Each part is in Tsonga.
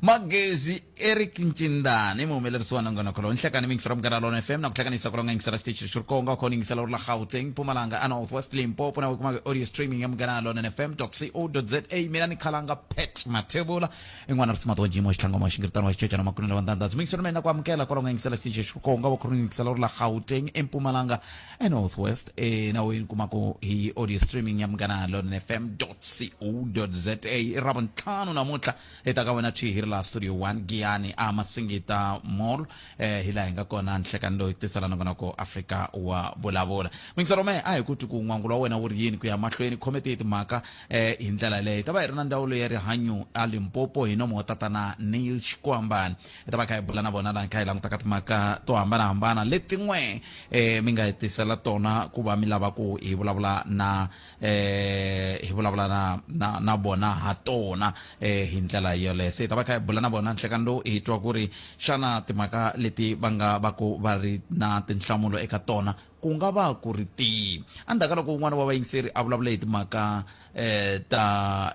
magezi eric ncindane muhumelerisi wa nongonoko lowu nhlekani mingisela munghana lona fm na ku hlanganisa ku longa yingisela xitichi xi ri konga kona yingisela uri la gauteng mpumalanga a north west limpopo na wikumaka audio streaming ya munghana lona fm co za mina ni khalanga pet mathebula in'wana ri simati wa jimo xitlhangoma wa xingiritano wa xicecana makunela wa ndandhazi mingisela mina ku amukela ku longa yingisela xitichi xi ri konga wa khoroni yingisela uri la gauteng empumalanga enorth west enaweni kumako hi audio streaming ya munghana london fm co za i ra vuntlhanu namuntlha hi ta ka wena twi hi ri laha studio 1 giyani a masingita mall eh, hi laha hi nga kona nhlekani loyi tisela nongonoko afrika wa vulavula mingiselo me a hi ku twi ku n'wangulo wa wena wu ri yini ku ya mahlweni khome tiye timhaka eh, hi ndlela leyi hi ta va hi ri na ndzawulo ya rihanyo a limpopo hi nomo wa tatana neil xikwambani hi ta va kha hi bula na vona laha kha hi languta ka timhaka to hambanahambana letin'we um mi nga hi tisela tona ku va mi lava ku hi vulavula na um hi vulavula na na na vona ha tona um hi ndlela yoleyo se hi ta va kha hi bula na vona nhlekani lowu hi twa ku ri xana timhaka leti va nga va ku va ri na tinhlamulo eka tona ku nga va ku ri tihi endzhaku ka loko un'wana wa vayingiseri a vulavule hi timhaka eh, ta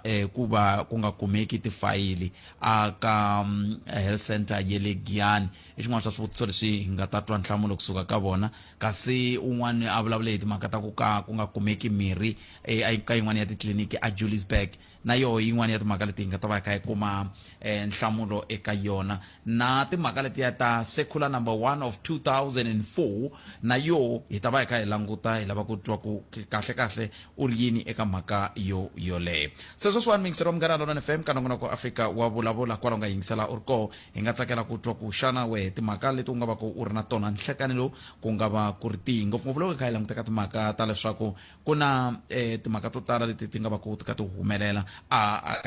eh, ku va ku nga kumeki tifayili aka mm, health center ye le giyani i xin'wana xa swivutiso leswi hi nga ta twa nhlamulo kusuka ka vona kasi un'wana a vulavule hi timhaka ta ku ka ku nga kumeki mirhi eh, ka yin'wana ya titliliniki ajulisburg na yoho yin'wana ya timhaka leti hi nga ta va hi kha hi kuma um nhlamulo eka yona na timhaka letiya ta secular number one of 2004 na yoho hi ta va hi kha hi languta hi lava ku twa ku kahle kahle u ri yini eka mhaka yo yoleyo se sweswiwani miyingiselo munghana lona fm ka nongonoko afrika wa vulavula kwala u nga yingisela u ri koho hi nga tsakela ku twa ku xana wehe timhaka leti u nga va ku u ri na tona nhlekani lowu ku nga va ku ri tihi ngopfungopfu loko hi kha hi languteka timhaka ta leswaku ku na eh, timhaka to tala leti ti nga va ku ti ka ti humelela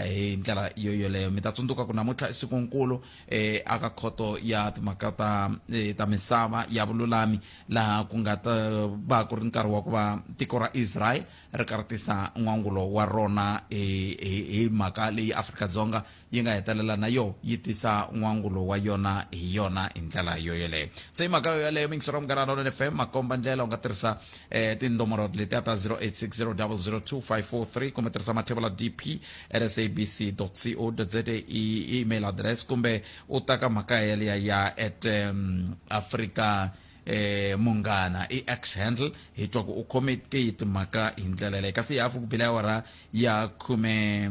hi ndlela yo yoleyo mi ta tsundzuka ku namuntlha i siku nkulu um eh, aka khoto ya timhaka ta eh, ta misava ya vululami laha ku nga ta va ku ri nkarhi wa ku va tiko ra israel ri karhatisa n'wangulo wa rona hi mhaka leyi afrika-dzonga yi nga hetelela na yo yi tisa n'wangulo wa yona hi yona hi ndlela yo yeleyo se hi mhaka yo yeleyo mingisero munghana lona fm makomba ndlela u nga tirhisa eh, tindomoro letiya ta 0860002543 kumbe tirhisa mathevula dp rsabc co za i email address kumbe u ta ka mhaka yeleya ya at um, africa eh munghana i x handle hi twa ku u khome ke yi timhaka hi ndlela leyi kasi hi hafu ku bila ya wara ya khume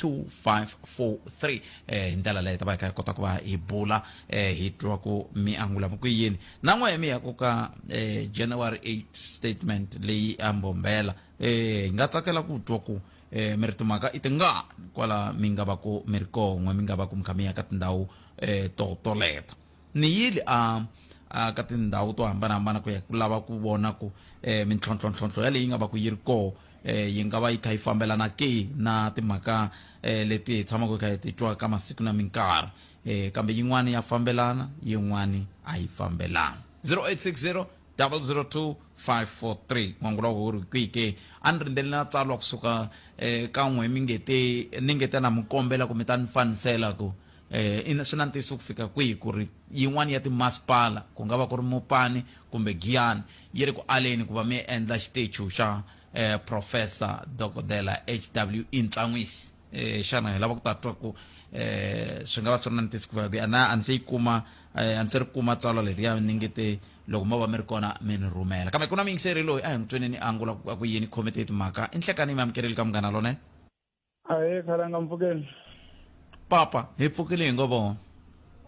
2543 eh, hi ndlela leyi ta va hi kha hi kota ku va hi bula eh, hi twa ku mi angula ku yini na n'we mi ya ku ka eh, january 8 statement leyi a mbombela eh, hi nga tsakela ku twa ku eh, mi ri timhaka i tingani kwala mi nga va ku mi ri kon'we mi nga va ku mi kha mi ya ka tindhawu eh, to toleta Ni yile a a ka tindhawu to hambana-hambana ku ya ku lava ku vona ku eh, mintlhontlho-ntlhontlho yaleyi yi nga va ku yi ri koho eh, yi nga va yi kha yi fambelana ke na timhaka eh, leti hi tshamaka hi kha hi ti twa ka masiku na minkarhi eh, kambe yin'wana ya fambelana yin'wana a yi fambelani 0860 002543 n'wangu loko wu ri kwihi ke a ni rindzele na tsalwa kusuka eh, ka n'we mi nge te ni nge te na mi kombela ku mi ta ni fanisela ku Eh, ina swi na ntiyiso ku fika kwihi ku ri yin'wana ya timasipala ku nga va ku ri Mopane kumbe Giyani yi ri ku aleni ku va mi endla xitechu xa eh, Profesa Dokodela HW Intsan'wisi? Eh, xana hi lava ku ta twa ku eh, swi nga va swi ri na ntiyiso ku fika kwihi? A na- a ni se yi kuma eh, a ni se ri kuma tsalwa leriya ni nge te loko mo va mi ri kona mi ni rhumela kambe ku na muyingiseri loyi a hi n'wi tweneni a angula ku a ku yini khomete hi timhaka i nhlekani yi mi amukerile ka munghana lonene ahe khalanga mpfukeni papa hi pfukile hi ngo vona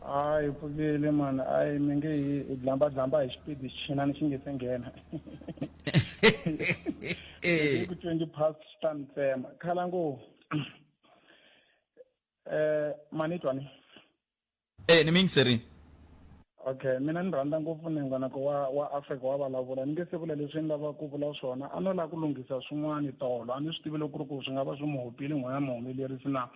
a hi pfukile mani a hi mi nge hi hi dlambadlamba hi xipidi xichinani xi nge se nghena Eh. ku twenty past xi ta ni tsema khala ngo um mani twa ni E ni miyingiseri. Okay mina ni rhandza ngopfu nengonako wa wa Africa wa vulavula ni nge se vula leswi ni lava ku vula swona a no lava ku lunghisa swin'wana tolo a ni swi tivi loko ku ri ku swi nga va swi mu hopile n'wina muhumelerisi na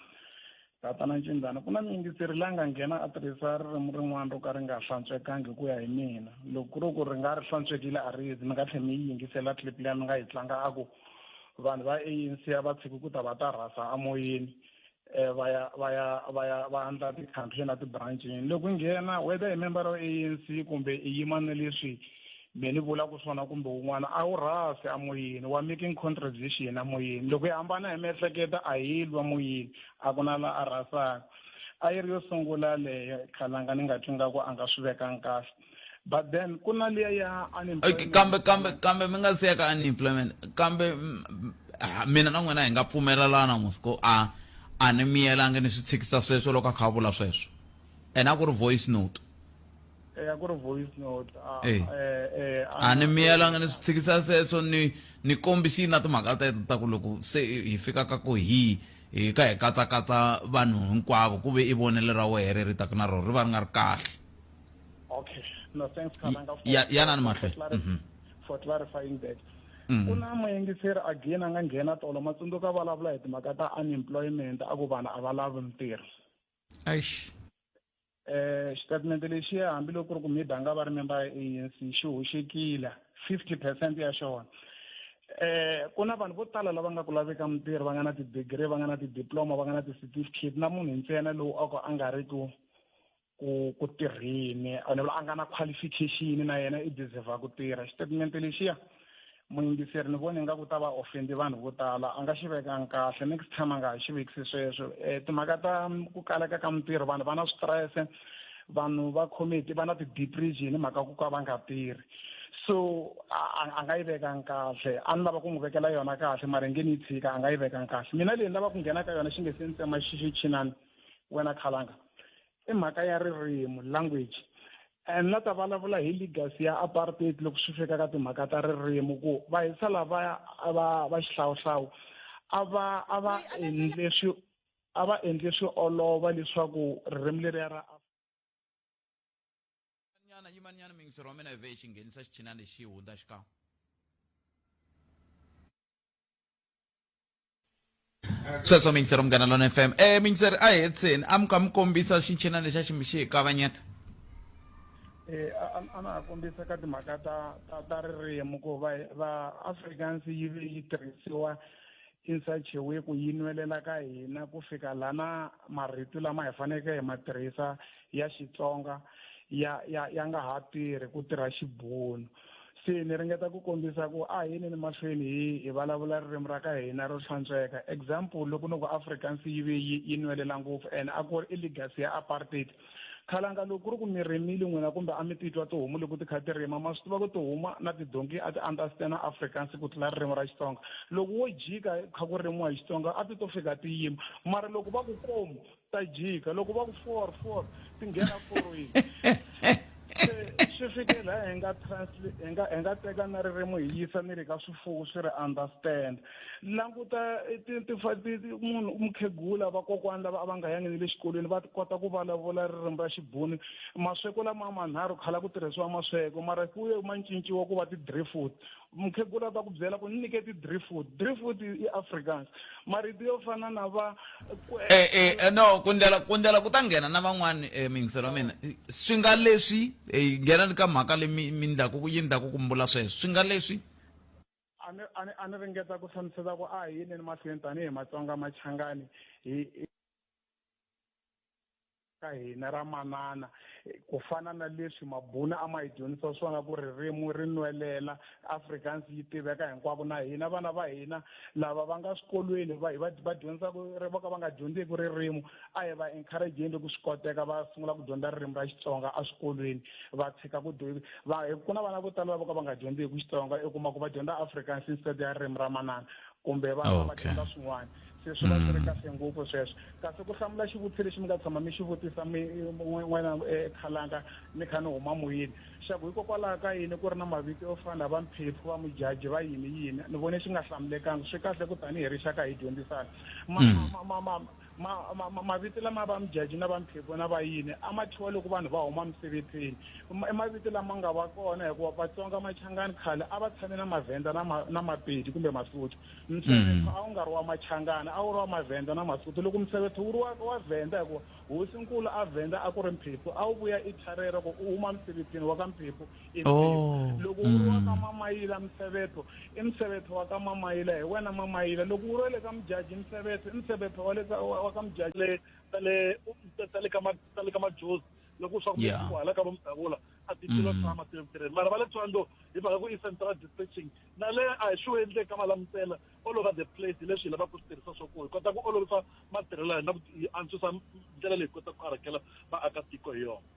tatana Ncindzana ku na muyingiseri la nga nghena a tirhisa ririmi rin'wana ro ka ri nga hlantswekangi hi ku ya hi mina loko ku ri ku ri nga ri hlantswekile a ri yezi mi nga tlhe mi yi yingisela clip liya mi nga yi tlanga a ku vanhu va ANC a va tshiki ku ta va ta rhasa amoyeni eh, va ya va ya va ya va andla ti-country na ti-branchini loko nghena whether i member of anc kumbe i yima ni leswi me ni vula ku swona kumbe wun'wana a wu rhasi amoyeni wa making contribution amoyeni loko yi hambana hi miehleketo a yi lwa moyeni a ku na la a rhasaka a yi ri yo sungula leyo khalanga ni nga twi nga ku a nga swi vekanga kahle but then ku na liya ya unemployment kambe kambe kambe mi nga siya ka unemployment kambe mina na n'wina hi nga pfumelelana musiko a a ni miyelangi ni swi tshikisa sweswo loko a kha a vula sweswo ene a ku ri voice note eh, a ku ri voice note eh. Eh, a ni miyelangi ni swi tshikisa sweswo ni ni kombisini na timhaka teto ta ku loko se hi fika ka ku hi hi ka hi katsakatsa vanhu hinkwavo ku ve i vonelo ra wehe ri ri taka na rona ri va ri nga ri kahle okay no thanks Khalanga for ya ya nani mahle mhm. for clarifying that mhm. ku na muyingiseri again a nga nghena tolo ma tsundzuka vulavula hi timhaka ta unemployment a ku vanhu a va lavi mintirho eish eh xitatimende lexiya hambiloko ku ri ku maybe a nga va ri memba ya anc xi hoxekile fifty percent ya xona eh ku na vanhu vo tala lava nga ku laveka mintirho va nga na ti-degree va nga na ti-diploma va nga na ti-certificate na munhu ntsena lowu a ku a nga ri ku ku ku tirhini ni vula a nga na qualification na yena i deserve ku tirha xitatimende lexiya muyingiseri ni vone nga ku ta va ofendi vanhu vo tala a nga xi vekanga kahle next time a nga ha xi vekisi sweswo um timhaka ta ku kaleka ka mintirho vanhu va na switirese vanhu va committee va na ti-depression hi mhaka ku ka va nga tirhi so a nga yi vekanga kahle a ni lava ku n'wi vekela yona kahle mara nge ni yi tshika a nga yi vekanga kahle mina leyi ni lava ku nghena ka yona xi nge se ni tsema xixichinani wena khalanga i mhaka ya ririmi language and la ta vulavula hi legacy ya apartheid loko swi fika ka timhaka ta ririmi ku va hisa lavaya va va xihlawuhlawu a va a va endle swi a va endle swi olova leswaku ririmi leriya ra nyana yimanyana mingisero wa mina vhe xi nghenisa xichinana lexi hundza xikan'we sweswo mingisero munghana lona fm e mingisero a hetseni a mi ka mi kombisa xinchinana lexa xi xi hi kavanyeta Eh, a a- a na ha kombisa ka timhaka ta ta ta ririmi ku va va afrikaans yi ve yi tirhisiwa Insache we ku yi nwelela ka hina ku fika lana marito lama hi faneke hi ma tirhisa ya Xitsonga ya ya ya nga ha tirhi ku tirha Xibunu. Se ni ringeta ku kombisa ku a hi ni ni mahlweni hi hi vulavula ririmi ra ka hina ro hlantsweka. Example loko ni ku Afrikaans yi ve yi yi nwelela ngopfu and a ku ri i legacy ya apartheid khalanga loko ku ri ku mi rimile n'wina kumbe a mi titwa tihomu loko ti kha ti rima ma swi tiva ku tihomu na tidonki a ti understand africans ku tlula ririmi ra xitsonga loko wo jika kha ku rimiwa hi xitsonga a ti to fika ti yima mara loko va ku komu ta jika loko va ku four four ti nghena forweni se swi fike laha hi nga hi nga hi nga teka na ririmi hi yisa ni le ka swifuwo swi ri understand languta eh, ti- ti- fa- ti- ti- munhu mukhegula vakokwani lava a va nga yangi ni le xikolweni va kota ku vulavula ririmi ra xibuni masweko lama manharhu khala ku tirhisiwa masweko mara ku ye ma cinciwa ku va ti-dree food mukhegula ta ku byela ku ni nyike ti-dree food dree food i i afrikaans marito yo fana na va kwe- Eh, eh, eh, no kundlela kundlela ku ta nghena na van'wani eh, mingiselo wa mina Eh, swi nga leswi eh, nghenani ka mhaka leyi mi mi ndlaku yi ndlaku ku mbula sweswo swi nga leswi A ni, a ni, a ni ringeta ku hlamusela ku a hi yineni mahlweni tanihi Matsonga Machangani hi, hi ka hina ra manana ku fana na leswi mabuna a ma hi dyondzisa swona ku ririmi ri nwelela Afrikaans yi tiveka hinkwako na hina vana va hina lava va nga swikolweni va va va dyondzaka vo ka va nga dyondzeki ririmi a hi va encourageni loko swi koteka va sungula ku dyondza ririmi ra xitsonga eswikolweni va tshika ku va ku na vana vo tala lavo ka va nga dyondzeki xitsonga i kuma ku va dyondza afrikaans instead ya ririmi ra manana kumbe va ah, va dyondza swin'wana se swi va swi ri mm. kahle ngopfu sweswo kasi ku hlamula xivutiso lexi mi nga tshama mi xi vutisa mi n'wina eh, khalanga mi kha ni huma moyeni xa ku hikokwalaho ka yini ku ri na mavito yo fana va mphephu va mujaji va yini yini ni vone xi nga hlamulekanga swi kahle ku tanihi rixaka hi dyondzisana mm. Ma, ma, ma, mavito lama va mjaji na va mphepho na va yini a ma thyiwa loko vanhu va huma misevethweni i mavito lama nga va kona hikuva vatsonga machangani khale a va tshame na mavhenda na, ma, na mapedi kumbe masotho msevetho mm. a wu nga ri wa machangani a wu ri wa mavhenda na masotho loko msevetho wu ri wa, wa vhenda hikuva hosinkulu a vhenda a ku ri mphepho a wu vuya i tharera ku u huma misevethweni wa ka mphepho loko u ri wa ka mamayila msevetho i msevetho wa ka mamayila hi wena mamayila loko u ri le ka mujaji msevetho i msevetho wa le ka wa ka mujaji le ta le ta le ka ta le ka majozi loko swa ku ku hala ka vomdavula a ti tilo tshama ti tirheni mara va le tswando hi mhaka ku i central dispatching na le a hi swi endle ka malamutela all over the place hi leswi hi lavaka ku swi tirhisa swa ku hi kota ku olovisa matirhelo ya hina ku antswisa ndlela leyi kota ku karhakela vaakatiko hi yona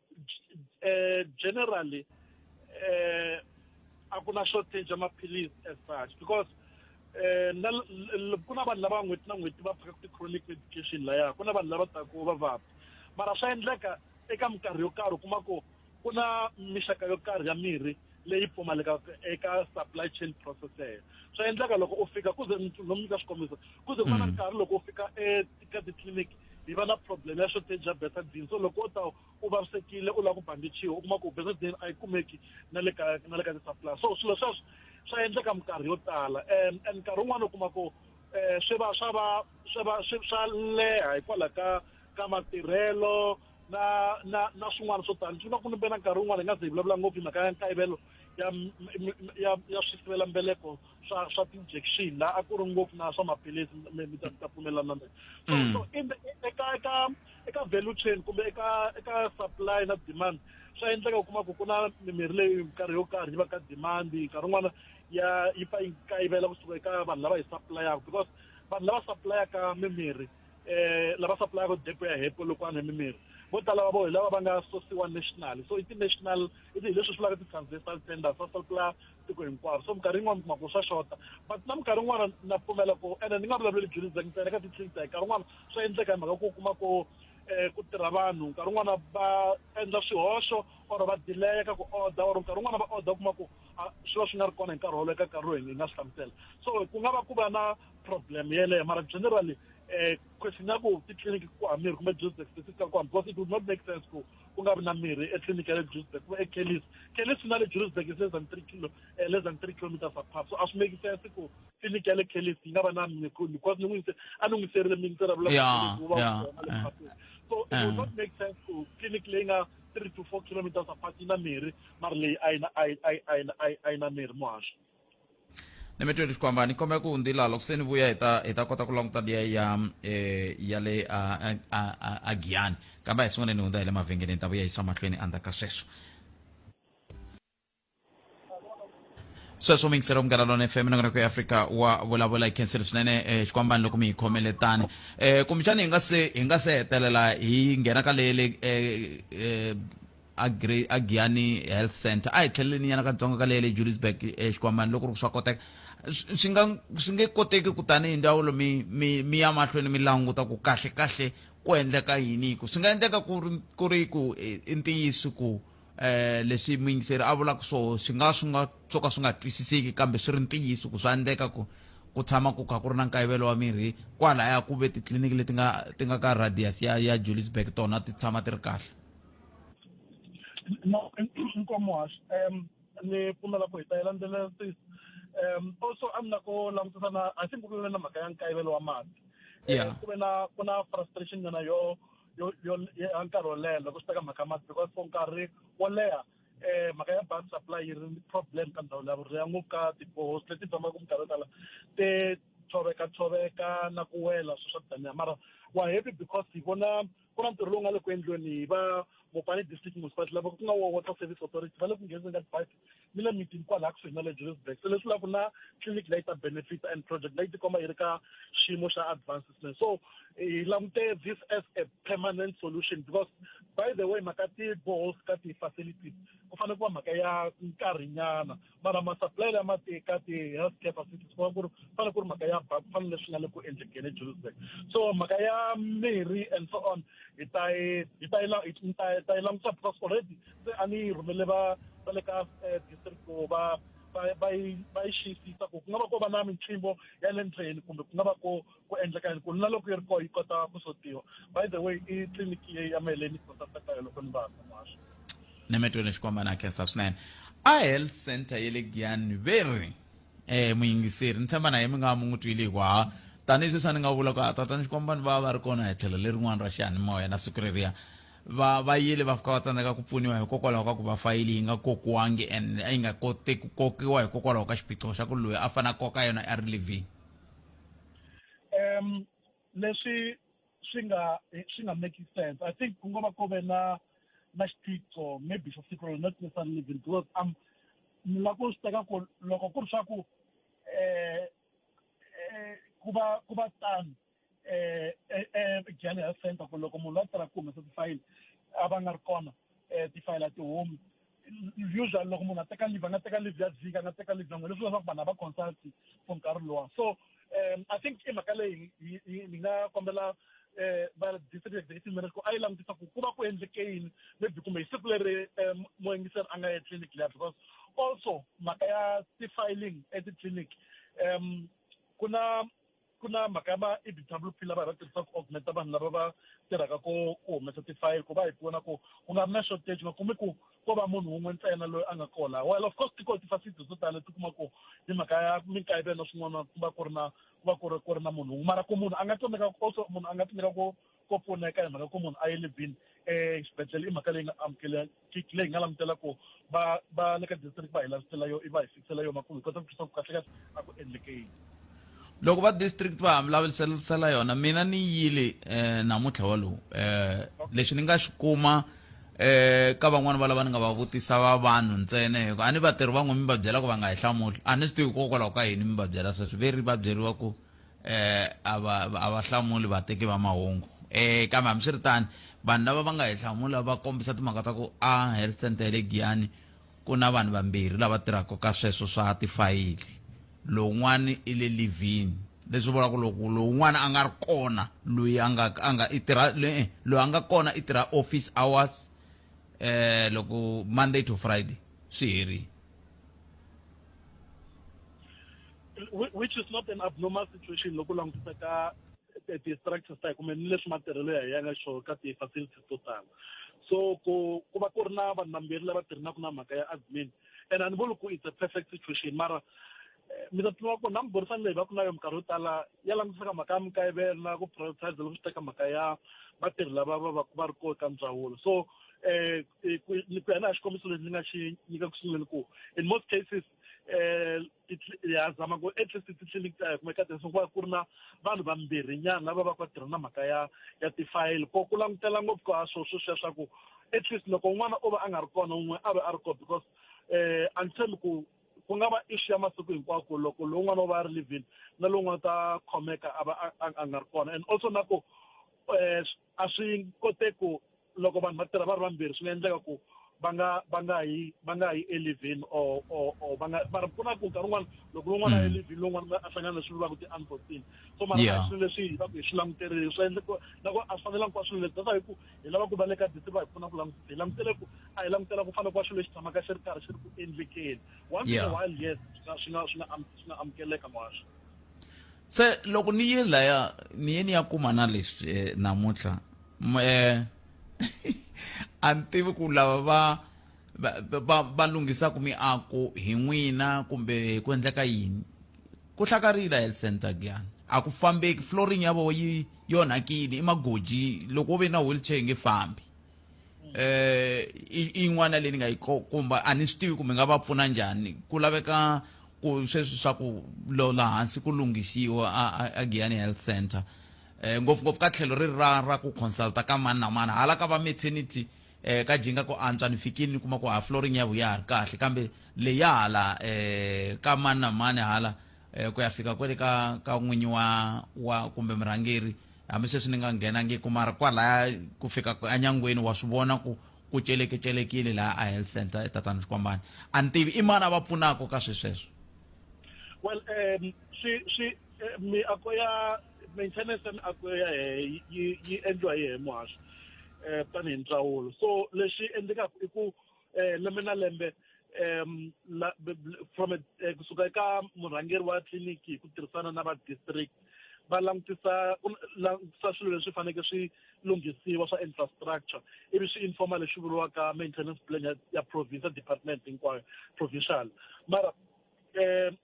eh, generally eh, a ku na shortage ya maphilisi as such because eh, ku na vanhu lava n'hweti na n'hweti va phaka ti-chronic medication laya ku na vanhu lava taku va vabya mara swa endleka eka minkarhi yo karhi u kuma ku ku na mixaka yo karhi ya mirhi leyi pfumalekaka eka supply chain processes swa endleka loko u fika kuze no mi nyika xikombiso kuze ku va na mm. nkarhi loko u fika eka titliliniki hi va na problem ya shortage ya betadine so loko u ta u vavisekile u lava ku bandichiwa u kuma ku betadine a yi kumeki na le ka na le ka ti-supply so swilo sweswo swa endleka minkarhi yo tala um and nkarhi wun'wana u kuma ku um swi va swa va swi va swi swa leha hikwalaho ka ka matirhelo na na na swin'wana swo tani swi ku ni bena nkarhi wun'wana hi nga ze hi vulavula ngopfu hi mhaka ya nkayivelo ya ya ya swisivelambeleko swa swa ti-injection la a ku ri ngopfu na swa maphilisi mi ta ta pfumelelana na so mm. so in the eka eka eka value chain kumbe eka eka supply na demand swa endleka u kuma ku ku na mimirhi leyi nkarhi yo karhi yi va ka demand nkarhi wun'wana ya yi pfa yi kayivela kusuka eka vanhu lava yi supplyaka because vanhu lava supplyaka mimirhi eh lava supplyaka depo ya hepo loko a nwe mimirhi vo tala va vo hi lava va nga sosiwa national so i ti-national i hi leswi swi vulaka ti-transversal tenders va supply tiko hinkwaro so minkarhi yin'wana kuma ku swa xota but na minkarhi yin'wana na pfumela ku ene ni nga vulavuleli jurisdek ntsena ka ti-clinic ta hi nkarhi yin'wana swa endleka hi mhaka ku kuma ku um ku tirha vanhu nkarhi wun'wana va endla swihoxo or va dileya ka ku order or nkarhi wun'wana va order kuma ku swi va swi nga ri kona hi nkarhi wolowo eka nkarhi lowu hi nga swi hlamusela so ku nga va ku va na problem yeleyo mara generally eh question ya ku titliliniki ku hava mirhi kumbe juicedex ti fika kwani because it would not make sense ku ku nga vi na mirhi etliliniki ya le juicedex kumbe ekelis kelis na le juicedex is less than three kilo eh, less than three kilometers apart so a swi make sense ku tliliniki ya le kelis yi nga va na mirhi because ni n'wi yise a ni n'wi serile mi ndzi ravula Yeah, ku va yeah, kona le yeah. phateni. so it would not make sense ku clinic leyi nga three to four kilometers apart yi na mirhi mara leyi a yi na a yi- a yi- a yi na- a yi- a yi na mirhi muhasho ni mi tweli xikwamba ni kombela ku hundzila loko se ni vuya hi ta hi ta kota ku languta liya ya eh, ya le a- a- a- a- a giyani kambe a hi sungule ni hundza hi le mavhengeleni ta vuya yisa mahlweni endzhaku ka sweswo sweswo mi yingisela munghana lona fm nongonoko ya afrika wa vulavula hi khensile swinene eh, xikwambani loko mi hi khomele tani eh, kumbexani hi nga se hi nga se hetelela hi nghena ka leyele eh, eh, agiyani health center a hi tlheleleni yana katsongo ka leyi le jurisburg exikwamani loko ri ku swa koteka swi nga swi nge koteki ku tanihi ndzawulo mi mi mi ya mahlweni mi languta ku kahle kahle ku endleka yini ku swi nga endleka ku ri ku ri ku i ntiyiso ku eh leswi muyingiseri a vulaka swona swi nga swi nga swo ka swi nga twisiseki kambe swi ri ntiyiso ku swa endleka ku ku tshama ku kha ku ri na nkayivelo wa mirhi kwalaya ku ve titliliniki leti nga ti nga ka radius ya ya juliusburg tona ti tshama ti ri kahle No, nkomo hash. Um, ni pfumela ku hi ta yi landzelela sis. Um, also a ni la ku langutisa na a xi mbulule na mhaka ya nkayivelo wa mati. Eh, Yeah. Ku ve na ku na frustration nyana yo yo yo ya nkarhi wo leha loko swi teka mhaka ya mati because for nkarhi wo leha eh mhaka ya bus supply yi ri ni problem ka ndhawu leya vurimi ya ngopfu ka tibohosi leti tshamaka minkarhi yo tala ti tshoveka tshoveka na ku wela swi swa daniya mara wa happy because hi vona ku na ntirho lowu nga le ku endliweni hi va mopane district municipality lava ku nga wa water service authority va le ku nghenizeni ka tipipe ni le mitini kwalaha kusuhi na le johannesburg se leswi laku na clinic leyi ta benefit and project leyi tikomba yi ri ka xiyimo xa advancement so hi langute this as a permanent solution because by the way mhaka ti-boholes ka ti-facilities ku fanele ku va mhaka ya nkarhinyana mara masupply lama ti ka ti health care facilities kuma ku ri fane ku ri mhaka ya ba ku fane leswi nga le ku endlekeni ejohannesburg so mhaka ya mirhi and so on hi ta yi hi ta yi la- hi ta yi- ta yi langusa because already se a ni yi rhumele va va le ka eh, district ku va va va yi va yi xiyisisa ku ku nga va ko va na minchimbo ya le ndzeni kumbe ku nga va ko ku endleka yini ku na loko yi ri kona yi kota ku sotiwa by the way i tliliniki ya maheleni yi kota teka yo loko ni va kun'waxo nemetweni xikwamba na khensa swinene a health center ye le giyani ve ri um muyingiseri ni tshemba na ye mi nga mi n'wi twile hikuva tanihi sweswi a ni nga vula ku a tatani xikwamba ni va va ri kona hi tlhelo lerin'wana ra xiyanimoya na siku reriya va va yile va fika va tsandzeka ku pfuniwa hikokwalaho ka ku va fayili yi nga kokiwangi and a yi nga koti ku kokiwa hikokwalaho ka xiphiqo xa ku loyi a fanele a koka yona a ri living um leswi swi nga swi nga make sense i think ku nga va ku ve na na xiphiqo maybe xa siku rona not necessarily living because um ni nga ku swi teka ku loko ku ri swa ku um ku va ku va tano eh, eh, eh, general center ku loko munhu la tirha ku humesa tifayili a va nga ri kona um tifayili a ti humi usually loko munhu a teka live a nga teka live ya vhiki a nga teka live yan'we leswi leswaku vanhu a va consult for nkarhi lowa so um i think i mhaka leyi ni nga kombela um va district executive manager ku a yi langutisa ku ku va ku endleke yini maybe kumbe hi siku leri um moyingiseri a nga ya clinic liya because also mhaka ya ti-filing etitliliniki um ku na ku na mhaka ya ma e d w p lava hi va tirhisaka ku augmenta vanhu lava va tirhaka ko ku humesa tifayili ku va hi pfuna ku ku nga ri na shortage nga kumi ku ko va munhu wun'we ntsena loyi a nga kona well of course tiko tifacility to tala ti kuma ku hi mhaka ya minkayivelo swin'wana ku va ku ri na ku va ku ri ku ri na munhu wun'we mara ku munhu a nga tsandzeka also munhu a nga tsandzeka ku ko pfuneka hi mhaka ku munhu a ye le bin exibedhlele i mhaka leyi nga amukelekiki leyi nga langutela ku va va le ka district va hi lavisela yo i va hi fikisela yona ku hi kota ku twisa ku kahle kahle a ku endleke yini loko va district va hambilavulisela yona mina ni yile um namuntlha walowu um lexi ni nga xi kuma eh ka van'wana va lava ni nga va vutisa va vanhu ntsena hikuva a ni vatirhi van'we mi va byela ku va nga hi hlamuli a ni swi tivi hikokwalaho ka yini mi va byela sweswi ve ri va byeriwa ku eh a va a va hlamuli vateki va mahungu eh kambe hambiswiritano vanhu lava va nga hi hlamula va kombisa timhaka ta ku a health center ya le giyani ku na vanhu vambirhi lava tirhaka ka sweswo swa tifayili lowun'wana i le livini leswi vulaka loko lowun'wana a nga ri kona loyi a nga a nga i tirha eh, loyi a nga kona i tirha office hours eh loko monday to friday swi herile which is not an abnormal situation loko langutisa ka eh, ti-structures ta hi kumbe ni leswi matirhelo ya hi ya nga xo ka ti-facilities to tala so ku ku va ku ri na vanhu vambirhi lava tirhinaka na mhaka ya admin and a ni vuli ku it's a perfect situation mara eh, mi ta tiva ku na miburisano leyi va ku na yo minkarhi yo tala ya langutisaka mhaka ya mikayivela ku prioritize loko swi teka mhaka ya vatirhi lava va va va ri kona ka ndzawulo so eh, eh, ku ku ya na hi xikombiso lexi ni nga xi nyika ku sunguleni ku in most cases eh, ha zama ku at least titliliniki ta hi kuma eka tinso ku va ku ri na vanhu vambirhinyana lava va ku va tirha na mhaka ya ya tifayili ko ku langutela ngopfu ka swo swo sweswa ku at least loko un'wana o va a nga ri kona un'we a va a ri kona because um a ni tshembi ku ku nga va issue ya masiku hinkwako loko lowun'wana u va a ri livini na lowun'wana ta khomeka a va a nga ri kona and also na ku um a swi koteki ku loko vanhu va tirha va ri vambirhi swi nga endleka ku va nga va nga yi va nga yi elivhini or or or va nga mara ku na ku nkarhi wun'wana loko lowun'wana a Mm. elivhini lowun'wana a hlangana leswi vulaka ti-unforeseen so mara a Yeah. hi swilo leswi hi va ku hi swi languterile swi endle ku na ku a swi fanelangi ku va swilo leswi that's why hi ku hi lava ku va le ka dite va hi pfuna ku langutisa hi langutele ku a hi langutela ku fana ku va swilo leswi tshamaka xi ri karhi xi ri ku endlekeni once in a Yeah. while yes swi nga swi nga swi nga am- swi nga amukeleka ngwaxo se loko ni ye laya ni ye ni ya kuma na leswi eh, namuntlha eh, a ni tivi ku lava va va, va, va lunghisaka miako hi n'wina kumbe hi ku endleka yini ku hlakarile health center giyani a ku fambeki flooring ya vona yi yonhakile i magoji loko wo ve na wheelchair yi nge fambi eh i yin'wana leyi ni nga yi kumba a ni swi tivi kumbe nga va pfuna njhani ku laveka ku sweswi swa ku lola hansi ku lunghisiwa a giyani health center eh ngopfungopfu ka tlhelo ri ra ra ku consulta ka mani na mani hala ka va maternity eh ka jinga ku antswa ni fikini ni kuma ku ha flooring ya vuya ha ri kahle kambe leya hala eh ka mani na mani hala eh ku ya fika kwele ka ka n'winyi wa wa kumbe murhangeri hambi sweswi ni nga nghenangiku mara kwalaya ku fika enyangweni wa swi vona ku ku celekecele laha a health center etatana xikwambani a ni tivi i mani a va pfunaka ka swi sweswo well um swi swi eh, miako ya maintenance ya miako ya hehe yi yi endliwa hi hehe muhasho um tanihi ndzawulo so lexi endlekaka i ku eh, lembe na lembe um la, b, b, from a, eh, kusuka eka murhangeri wa tliliniki hi ku tirhisana na va district va langutisa ku langutisa swilo leswi faneke swi lunghisiwa swa infrastructure ivi swi informa lexi vuriwaka maintenance plan ya, ya provincial department hinkwayo provincial mara um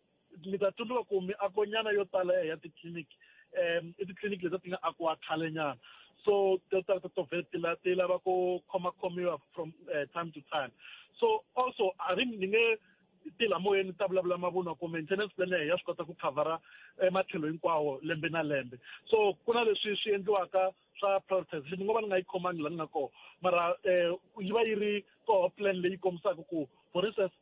mi ta tsundzuka ku miakonyana yo tala ya titliliniki um i titliliniki leti ti nga akiwa khalenyana so to ta to vhele ti la ti lava ku khomakhomiwa from uh, time to time so also a ri ni nge ti la moyeni ta vulavula mavunwa ku maintenance plan ya ya swi kota ku khavhara eh, matlhelo hinkwawo lembe na lembe so ku na leswi swi endliwaka swa privatization ni ngo va ni nga yi khomangi la ni nga kona mara um yi va yi ri koho plan leyi kombisaka ku for instance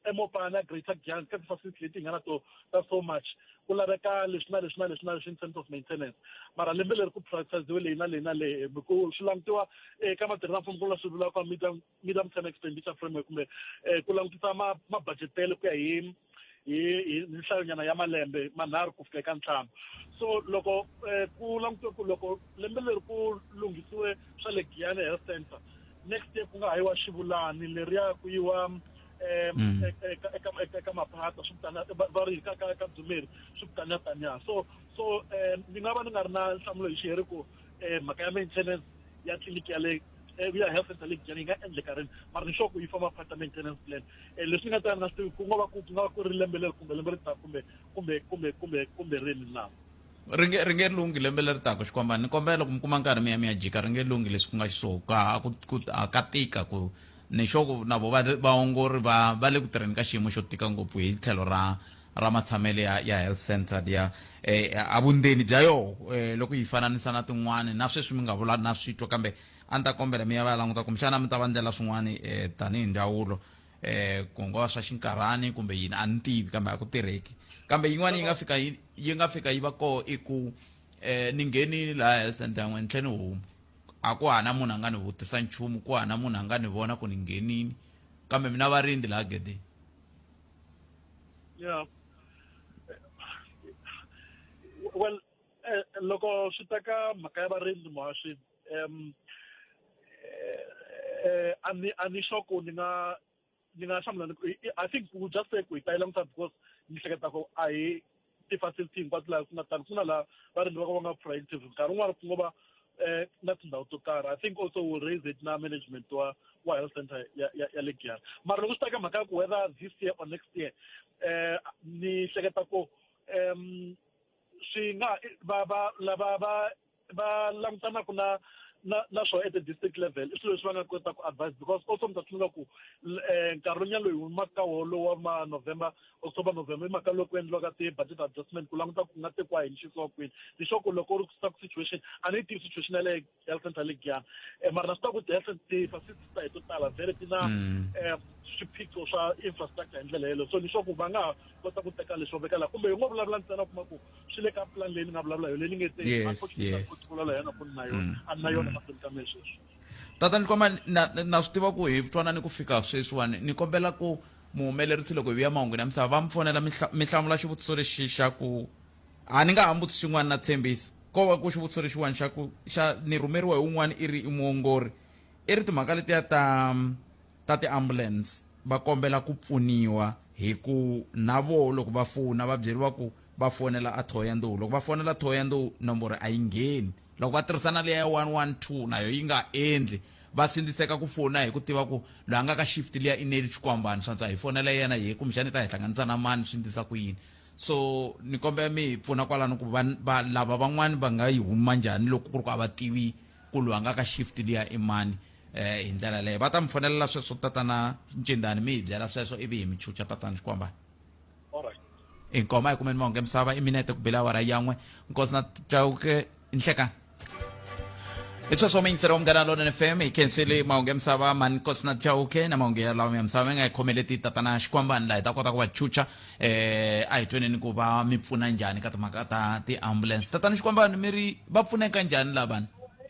emopana greater giant ka ti-facility leti hi nga na to ta so much ku laveka leswi na leswi na leswi na leswi in terms of maintenance mara lembe leri ku privatiziwe leyi na leyi na leyi hi ku swi langutiwa eka matirhi na mfumo ku nga swi vulaka media medium term expenditure framework kumbe um ku langutisa mabudgetelo ku ya hi hi hi nhlayonyana ya malembe manharhu ku fika eka ntlhanu so loko eh, ku langutiwe ku loko lembe leri ku lunghisiwe swa le giyane health center next year ku nga ha yiwa xivulani leriya ku yiwa um mm. eka maphata swi vitana va ri ka ka ka dzumeri swi vitana taniya so so um ni nga va ni nga ri na nhlamulo hi xi heri ku eh mhaka ya maintenance ya clinic ya le eh, ya health center le Giyani yi nga endleka rini mara ni sure ku yi famba part ya maintenance plan eh leswi nga ta nga swi ku nga va ku ku nga va ku ri lembe leri kumbe lembe ri ta kumbe kumbe kumbe kumbe kumbe rini na ri nge ri nge lunghi lembe leri taka xikwambani ni kombela loko mi kuma nkarhi mi ya mi ya jika ri nge lunghi leswi ku nga xiswona ka ku ku ka tika ku ni xoko na vo vaongori va va le ku tirheni ka xiyimo xo tika ngopfu hi tlhelo ra ra matshamelo ya, ya health centered ya eh, a vundzeni bya yoho eh, loko yi fananisa na tin'wana na sweswi mi nga vula na switwa kambe a ni ta kombela mi ya va ya languta kumbexana mi ta va ndlela swin'wana eh, tanihi ndzawulo eh, ku nga va swa xinkarhani kumbe yini a ni tivi kambe a ku tirheki kambe yin'wana yi nga fika yi yi nga fika yi va koo i ku eh, ni nghenile laha health center yan'we ni tlhe ni huma a ku hana munhu a nga ni vutisa nchumu ku hana munhu a nga ni vona ku ni nghenini kambe mina varindzi laha gedeni yeah well eh, loko swi ta ka mhaka ya varindzi muhaxi um eh, eh, a ni a ni sure ku ni nga ni nga hlamula i think ku just say ku hi ta yi languta because ni hleketa ku a hi ti-facility hinkwato laha ku nga tani ku na laha varimi va ka va nga proactive nkarhi wun'wana ku ngo va um na tindhawu to karhi i think also will raise it na management wa wa health center ya ya ya le giyana mara loko swi ta ka mhaka ya ku whether this year or next year um ni hleketa ku um swi nga va va lava va va langutanaku na na na swo at the district level i swilo leswi va nga kota ku advise because also mi ta tsundzuka ku um nkarhi wonyana loyi humaka ka wona lowu wa ma november october november i mhaka loko endliwaka ti-budget adjustment ku languta ku nga tekiwa hi ni xisiwa kwini ni swa ku loko u ri kusuka ku situation a ni yi tivi situation ya le health center le giyana um eh, mara na swi tiva ku ti-health ti-facility ta hi to tala vhele ti na um mm. eh, swiphiqo swa infrastructure hi ndlela yeleyo so ni swa ku va nga ha kota ku teka leswo vekala kumbe hi ngo vulavula ntsena kuma ku swi le ka plan leyi ni nga vulavula yona leyi ni nge te unfortunately la yona ku ni na yona mm. a ni na yona mm. mahlweni ka mehe sweswi tata ni komba na na swi tiva ku hi twana ni ku fika sweswiwani ni kombela ku muhumelerisi loko hi vuya mahungwini ya misava va mi fonela mi hlamula xivutiso lexi xa ku a ni nga ha mbutisi xin'wana na tshembisi ko va ku xivutiso lexiwani xa ku xa ni rhumeriwa hi un'wana i ri i muongori i ri timhaka letiya ta ta ti ambulance va kombela ku pfuniwa hi ku na vo loko va fona va byeriwa ku va fonela a thoya nduhu loko va fonela thoya nduhu nomboro a yi ngheni loko va tirhisa na leya ya 112 nayo yi nga endli va sindziseka ku fona hi ku tiva ku loyi a nga ka shift liya i neli xikwambani swantswa hi fonela yena hi kumbexana i ta hi hlanganisa na mani swi ndlisa ku yini so ni kombela mi hi pfuna kwalano ku va va lava van'wani va nga yi huma njhani loko ku ri ku a va tivi ku loyi a nga ka shift liya i mani eh hi ndlela leyo va ta mi fonelela sweswo tatana ncindani mi hi byela sweswo ivi hi mi chucha tatana xikwambana alright inkoma hi kumeni mahungu emisava i minete ku bela awara yan'we nkosi na chauke nhlekani i sweswo miyingiselo wa munghana lonene fm hi khenseli mahungu emisava mani nkosi na chauke na mahungu ya lawa ya misava mi nga hi khomeleti tatana xikwambani laha hi ta kota ku va chucha eh a hi tweneni ku va mi pfuna njhani ka timhaka ta tiambulance tatana xikwambani mi ri va pfuneka njhani lavani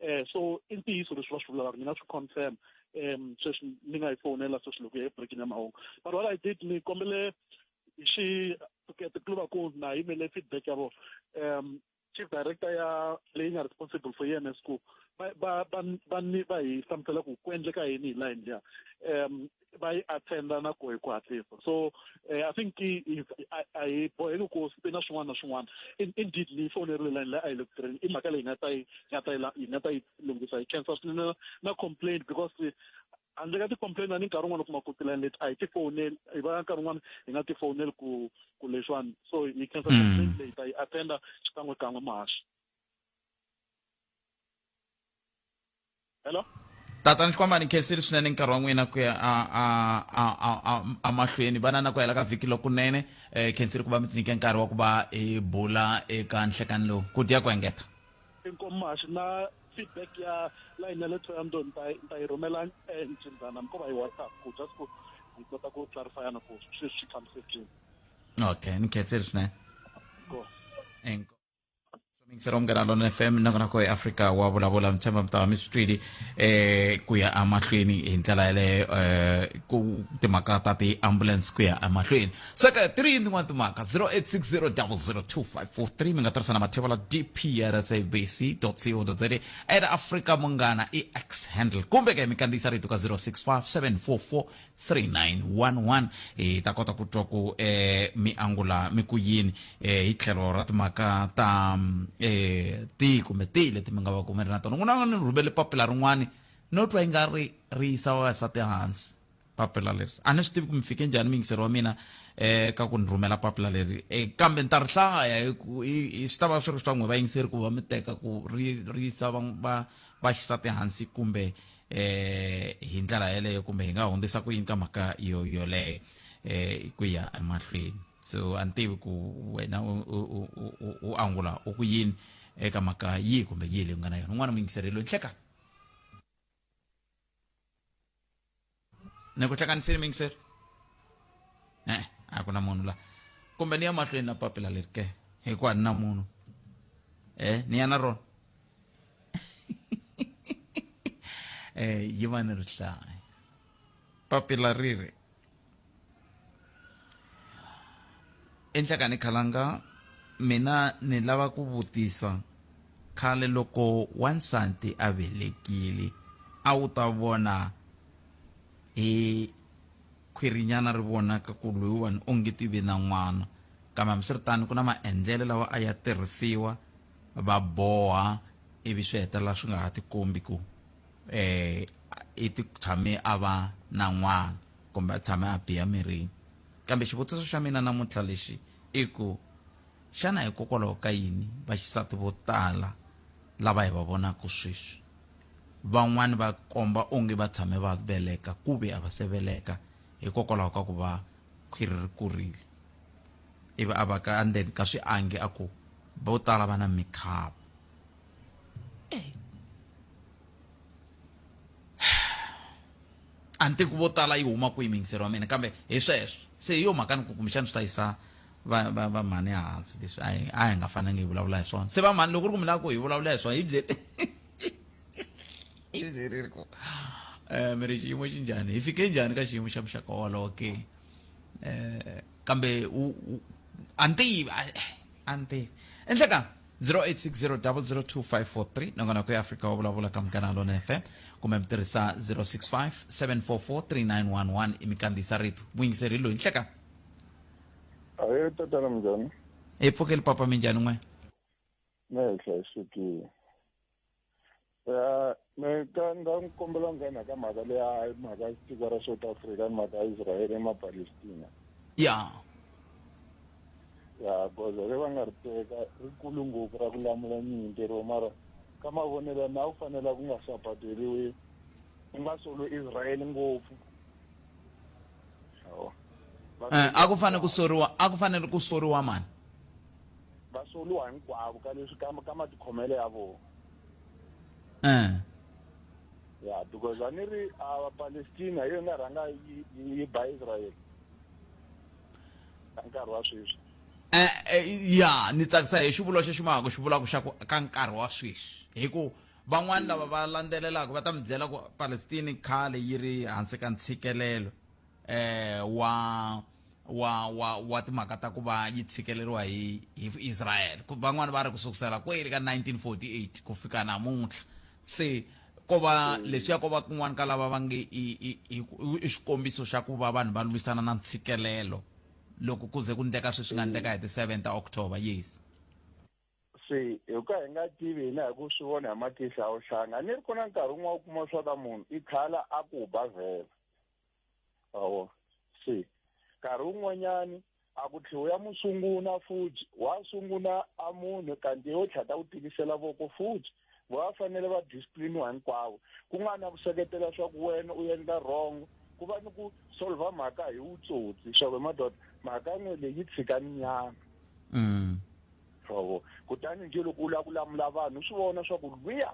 eh so i ntiyiso leswi va swi vulaka mina swi confirm um sweswi ni nga yi fowunela sweswi loko ya ebrekini ya mahungu but what i did ni kombele xi tikluba ku na yimele feedback ya vona um chief director ya leyi nga responsible for EMS ku va va va ni va hi hlamusela ku ku endleka yini hi line liya um va yi attenda na ku hi ku hatlisa so eh, i think a hi boheki ku swi na swin'wana na swin'wana indeed ni yi fonerile line leyi a yi le ku tirheni i mhaka leyi nga ta yi nga ta yi nga ta yi lunghisa hi khensa swinene na complaint because handle ka ti-complain a ni nkarhi wun'wana u kuma ku tilani leti a hi tifoneli hi va nkarhi wun'wana hi nga tifoneli ku ku leswiwani so hi khensa mm. complain leyi ta yi attenda xikan'we kan'we mahaxi hello tata ni xikwamba ni khensile swinene nkarhi wa n'wina ku ya amahlweni vana na ku hela ka vhiki lokunene um khensile ku va mi tinike nkarhi wa ku va hi bula eka nhlekani lowu ku dya ku engeta inkomashi na feedback ya line ya le toyando ni ta yi rhumela encindzana mi ko va hi whatsapp ku just ku hi kota ku clarifyana ku sweswi swi fambise njhini okay ni khensile swinene mixer omugana lona fm nakonako eafrika wa vulavula mtshemba mtava mi swi twile eh ku ya emahlweni hi ndlela yaleyo eh ku timhaka ta ti-ambulance ku ya emahlweni seka ti ri yini tin'wana timhaka 0860002543 mi nga tirhisa na matheva la dprsabc co za at africa munghana i x handle kumbe ke mi kandziyisa rito ka 065744 3911 hi ta kota ku twa ku eh, mi angula mi ku yini eh, hi tlhelo ra timhaka ta mm, eh, tihi kumbe tihi leti mi nga va kumeri na tona ku na ni rhumele papila rin'wani no twa yi nga ri ri yisa vavasati hansi papila leri a ni swi tivi ku mi fike njhani miyingiseri wa mina eh ka ku ni rhumela papila leri eh, kambe ni ta ri hlaya hi ku- hi- hi- swi ta va swi ri swa n'we vayingiseri ku va mi teka ku ri ri yisa va- va- vaxisati hansi kumbe eh hi ndlela yeleyo kumbe hi nga hundzisa ku yini ka mhaka yo yoleyo eh ku ya emahlweni so a ni tivi ku wena u angula u ku yini eka mhaka yihi kumbe yihi leyi u nga na yona un'wana muyingiseri loyi nhleka ni ku hlekanisini muyingiseri e a ku na munhu la kumbe ni ya mahlweni na papila leri ke hikuva ni na munhu e ni ya na rona eh yi va ni rihlaya papila ri ri enhlakani khalanga mina ni lava ku vutisa khale loko wansati a velekile a wu ta vona hi khwirinyana ri vonaka ku loyiwani onge ti ve na n'wana kambe hambiswiritano ku na maendlelo lawa a ya tirhisiwa va boha ivi swi hetelela swi nga ha tikombi ku um i ti tshame a va na n'wana kumbe a tshame a biha mirini kambe xivutiso xa mina namuntlha lexi i ku xana hikokwalaho ka yini vaxisati vo tala lava hi va vonaka sweswi van'wani va komba onge va tshame va veleka ku ve a va se veleka hikokwalaho ka ku va khwiri ri kurile ivi a va ka ndzeni ka swiangi a ku vo tala va na mikhava a ni tivi ku vo tala yi huma kwihi mingisero wa mina kambe hi sweswo se hi yo mhaka ni ku kumbexana swi ta yisa va va va mhani hansi leswi a hi a hi nga fanangi hi vulavula hi swona se va mhani loko ri ku mi lava ku hi vulavula hi swona hi byeli hi byeriri ku um mi ri xiyimo xi njhani hi fike njhani ka xiyimo xa muxaka wolowo ke um kambe u anti anti endleka 0860002543 nangona ku ya afrika wa vulavula ka mugana lona fm kumbe mi tirhisa 0657443911 i mi kandziyisa rito muyingiseri loyi nhleka ahe tatana minjhani hi pfukeli papa minjhani n'we me hi hlayisekile ya me ka nga n'wi kombela nghena ka mhaka leya mhaka tiko ra south africa ni mhaka israele emapalestina ya ya goza ri va nga ri teka rikulu ngopfu ra ku lamula nyimpi ro mara ka mavonelo na wu fanela ku nga sapateliwi u nga solo israele ngopfu eh, a ku fanele ku soriwa a ku fanele ku soriwa mani va soluwa hinkwavo ka leswi ka ka matikhomelo ya vona eh ya because a ni ri a Palestina hi yona rhanga yi yi ba Israel ka nkarhi wa sweswi eh, eh ya ni tsakisa hi xivulo xexi mahaka xi vulaka xa ku ka nkarhi wa sweswi hi ku van'wani lava va landzelelaka va ta mi byela ku Palestina khale yi ri hansi ka ntshikelelo eh, wa wa wa wa timhaka ta ku va yi tshikeleriwa hi hi Israel van'wana va ri ku sukusela kweli ka 1948 ku fika namuntlha se ko va leswiya ko va kun'wana ka lava va nge i xikombiso xa ku va vanhu va lwisana na ntshikelelo loko ku ze ku ndleka sweswi nga ndleka hi ti 7 ta october yes se hi ka hi nga tivi hina hi ku swi vona hi matihlo a wu hlanga ni ri ku na nkarhi wun'wana u kuma swa ka munhu i khala a ku ba vhela awo se nkarhi wun'wanyani a ku tlhiwi ya mu sunguna futhi wa sunguna a munhu kanti yo tlhata ku tikisela voko futhi va fanele va discipliniwa hinkwavo ku nga na ku seketela swa ku wena u endla wrong ku va ni ku solva mhaka hi wutsotsi swa ku madoda mhaka n'we leyi yi tshika ni nyama mm. kutani njhe loko u lava ku lamula vanhu swi vona swa ku lwiya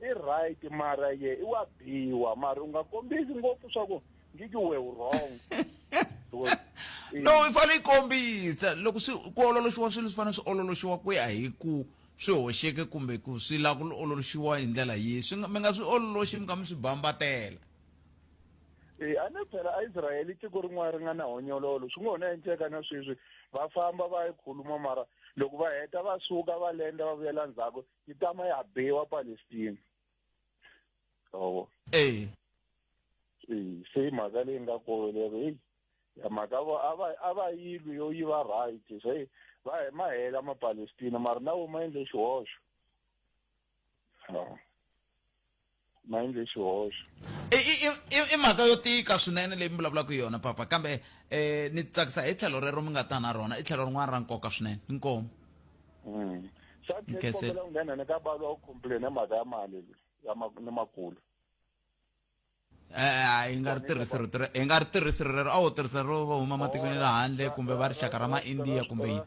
i right mara ye i wa biwa mara u nga kombisi ngopfu swa ku ngiki we u wrong no i fanele i kombisa loko swi ku ololoxiwa swilo swi fanele swi ololoxiwa ku ya hi ku swi hoxeke kumbe ku swi lava ku ololoxiwa hi ndlela yihi swi mi nga swi ololoxi mi kha mi swi bambatela e a ni phela aisrayele tiko rin'wana ri nga na honyololo swi ngo ho na endleka na sweswi va famba va yi khuluma mara loko va heta va suka va lenda va vuyela ndzhaku yi tama ya bewa palestina oho e se yi mhaka leyi nga kolo lero heyi ya mhaka vo a va a va yilwi yo yi va right se va hi ma hela mapalestina mara na wo ma endle xihoxo ma endle xihoxo i mhaka yo tika swinene leyi mi vulavulaka hi yona papa kambe um ni tsakisa hi tlhelo rero mi nga ta na rona i tlhelo rin'wana ra nkoka swinene inkomu mm. sakombela ku nghena ni ka balo wa ku complain hi mhaka ya mali ni makulu hi nga ri tirhisi rito hi nga ri tirhisi rero a wu tirhisa ro va huma matikweni le handle kumbe va rixaka ra ma-india kumbe yini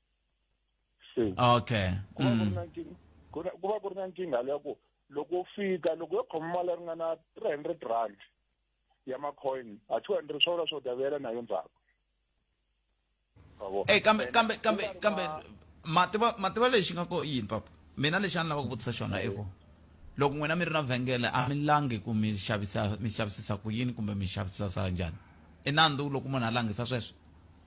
okay ku va ku ri mm. na nkingha ku ri- ku va ku ri na nkingha leya ku loko u fika loko yo khoma mali ya ringana three hundred rand ya macoin a two hundred swa vula swo davela na yo ndzhaku Ma vo? Eh, kambe Ene, kambe ku kambe nga ri kambe na- mativa mativa lexi nga ko yini papa mina lexi a ni lava ku vutisa xona i ku loko n'wina mi ri na vhengele a mi langi ku mi xavisa mi xavisisa ku yini kumbe mi xavisisa njhani i nandzu loko munhu a langisa sweswo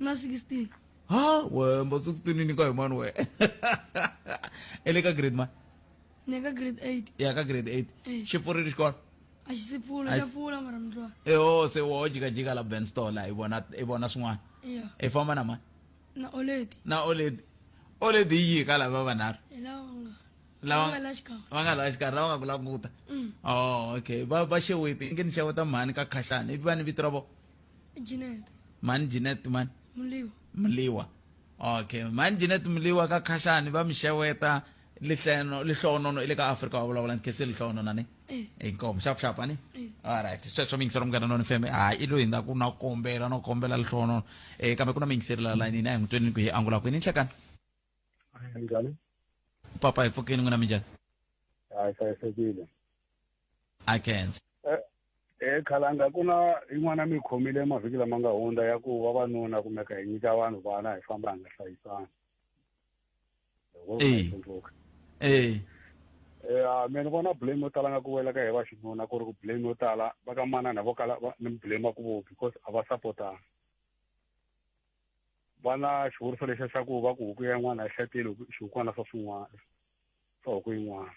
na 16 ha we mba 16 ni nyika hi mani we i le ka grade mani ni ka grade 8 ya ka grade 8 Eh. xi pfurile xikolo a xi si pfula Ai- xa pfula mara mi twa eho se wo jikajika la ben store la i vona i vona swin'wana ya i famba na mani na oledi na oledi oledi yi yi ka lava vanharhu hi lawa nga Lava- nga la xikan'we va nga laha xikarhi lava nga ku languta Mm. oh okay va va xeweti inge ni xeweta mhani ka khahlani i va ni vito ra vona Janet. mani Janet mani Mliwa. mliwa okay mani Janet mliwa ka khashani va mi xeweta lihleno lihlonono i le ka afrika wa vulavula ni khese lihlonona ni Eh. inkomo xap xap ani Eh. alright sweswo mi yingisela munghana noni fm hayi i loyi nga ku na kombela no kombela lihlonono um kambe ku na mi yingiseri la layinini a hi n'wi twenini ku hi angula kwini nhlekani njhani papa hi pfukeni n'wina mi njhani hayi hlayisekile a kenza eh, eh khalanga ku na yin'wana mi khomile mavhiki lama nga hundza ya ku vavanuna kumeka hi nyika vanhu vana hi famba hi nga hlayisani eh eh mina vona blame yo tala nga ku wela ka hi va xinuna ku ri ku blame yo tala va ka manana vo kala ni blame ku vo because a va supportana va na xivuriso lexa xa ku va ku huku ya n'wana yi hlatile xihukwana swa swin'wana or ku yin'wana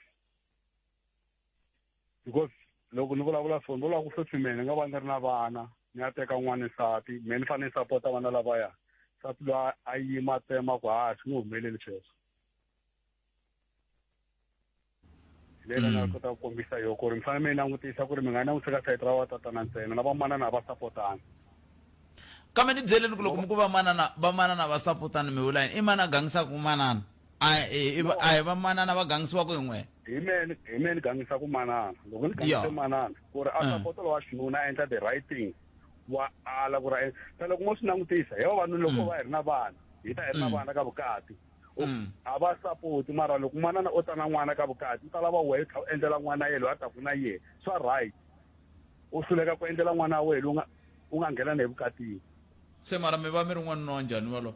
because loko ni vulavula so ni vulaka ku sweswi mehe ni nga va ni ri na vana ni ya teka n'wana nsati mehe ni fanele ni sapota vana lavaya nsati loyi a yima tsema ku ha swi nge humeleli sweswo hi leyi nga kota ku kombisa yo ku ri mi fanele mi yi langutisa ku ri mi nga langutisi ka sayiti ra vatatana ntsena na vamanana a va sapotana kambe ni byeleni ku loko mi ku vamanana vamanana va sapotana mi vula yini i mani a gangisaka manana a hi- hi va- a hi vamanana va gangisiwaka hi n'we hi meni hi meni gangisa ku manana loko ni gangise Yeah. manana ku ri a Mm. sapota lowa xinuna a endla the right thing wa ala ku ri a en- se loko mo swi langutisa hi vavanuna loko va hi ri na vana hi ta hi ri na Mm. vana ka vukati U- Mm. a va sapoti mara loko manana o ta na n'wana ka vukati u ta lava wehe u tlha u endlela n'wana ye loyi a taku na yehe swa right u hluleka ku endlela n'wana wa wehe loyi u nga- u nga nghena na evukatini se mara mi va mi ri n'wanuna wa njhani walowo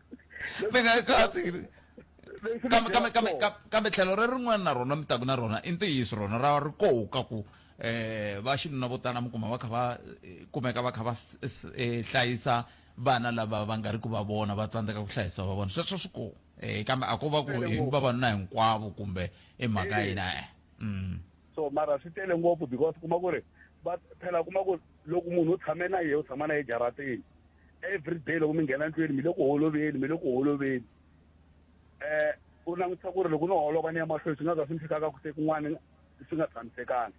kambe tlhelo re rin'wana na rona mi taku na rona i ntiyiso rona ra ri koho ka ku um va xinuna vo tala mi kuma va kha va eh, kumeka va kha va eh, hlayisa vana lava va nga ri ku va vona va tsandzeka ku hlayisa va vona sweswo swi koho um kambe a ko va ku hi vavanuna hinkwavo kumbe i mhaka yina e mm. so mara swi tele ngopfu because kuma ku ri va phela kuma ku loko munhu u tshame na yehe u tshama na ye jaratini every day loko mi nghena ndlwini mi le ku holoveni mi le ku holoveni eh u langutisa ku ri loko no holova ni ya mahlweni swi nga za swi ni fikaka ku se kun'wana swi nga tshamisekanga